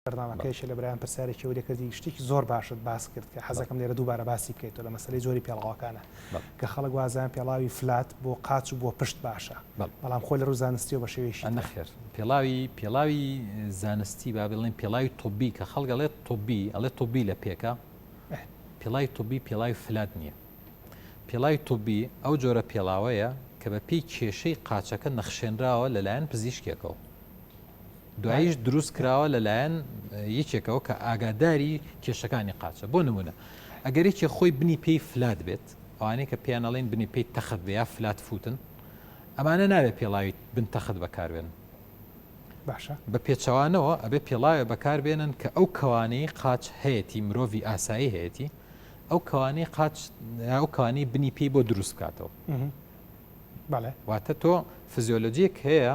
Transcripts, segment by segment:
بەرنامەکەیشی لە برایان پرسیارێکی ئەوەی لێ کردی شتێکی زۆر باشت باس کرد کە حەزەکەم لێرە دووبارە باسی بکەیتەوە لە مەسەلەی جۆری پێڵاوەکانە کە خەڵک وازیان پێڵاوی فلات بۆ قاچ و بۆ پشت باشە بەڵام خۆی لە ڕوو زانستیەوە بە شێوەیەکی نەخێر پێڵاوی پێڵاوی زانستی با بڵێن پێڵاوی تۆبی کە خەڵک ئەڵێت تۆبی ئەڵێ تۆبی لە پێکە پێڵای تۆبی پێڵاوی فلات نییە پێڵاوی تۆبی ئەو جۆرە پێڵاوەیە کە بە پێی کێشەی قاچەکە نەخشێنراوە لەلایەن پزیشکێکەوە دواییش دروست کراوە لەلایەن یەکێکەوە کە ئاگاداری کێشەکانی قاچە بۆ نمونە ئەگەر یەکێ خۆی بنی پێی فلات بێت ئەوانەی کە پێیانەڵین بنی پێی تەخت بێ یا فلات فوتن ئەمانە ناوێت پێڵاوی بن تەخت بەکاربێن باشە بە پێچەوانەوە ئەبێ پێڵاوێ بەکاربێنن کە ئەو کەوانەی قاچ هەیەی مرۆڤی ئاسایی هەیەی ئەو کەوانەی قاچ ئەو کانی بنی پێی بۆ دروست بکاتەوە بەڵێ واتە تۆ فزیۆلۆجیەک هەیە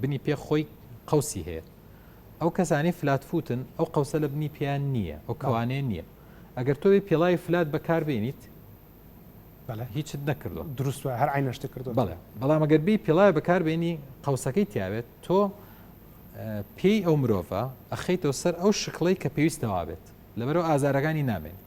بنی پێ خۆی قوسی هەیە ئەو کەسانی فلاتفوتن ئەو قوسە لە بنی پێیان نییە ئەو کەوانێ نییە ئەگەر تۆی پیڵاوی فلات بەکاربیێنیت هیچت نەکردو دروست هەر ئاینەشتی کردو بڵێ بەڵام ئەگەر بی پیڵای بەکاربیێنی قوسەکەی تیاوێت تۆ پێی ئەو مرۆڤە ئەخیتەوە سەر ئەو شکڵی کە پێویستەوا بێت لەبەرەوە ئازارەکانی نامێنێت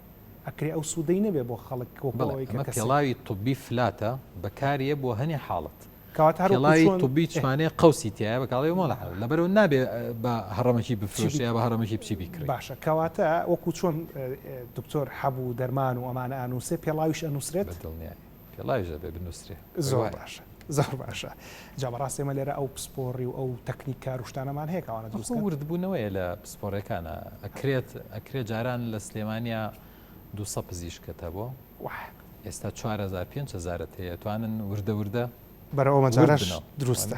ئەکرێ ئەو سودەی نەبێ بۆ خەڵک وەکو ئەوەی کە کەسێک. بەڵێ ئەمە پێڵاوی طوبی فلاتە بەکاریە بۆ هەنێ حاڵەت. کەواتە هەر وەکو چۆن طوبی چمانێ قەوسی تایە بە کاڵێ مۆڵە حاڵەت لەبەرەوە نابێ بە هەڕەمەکی بفرۆشێ یا بە هەڕەمەکی بچی بیکڕێ. باشە کەواتە وەکو چۆن دکتۆر حەبوو دەرمان و ئەمانە ئانووسێ پێڵاویش ئەنووسرێت؟ بەدڵنیایە. پێڵاویش دەبێ بنوسرێ. زۆر باشە زۆر باشە جا بەڕاستی ئێمە لێرە ئەو پسپۆڕی و ئەو تەکنیک کار و شتانەمان هەیە کە ئەوانە دروست کەن. ئەخۆ وردبوونەوەیە لە پسپۆڕیەکانا ئەکرێت ئەکرێ جاران لە سلێمانیا دوو سە پزیشکت هەبوو ئێستا چوار هەزار پێنج هەزارت هەیە توانن وردە وردە بەرەو ئەو مەجالەش دروستە.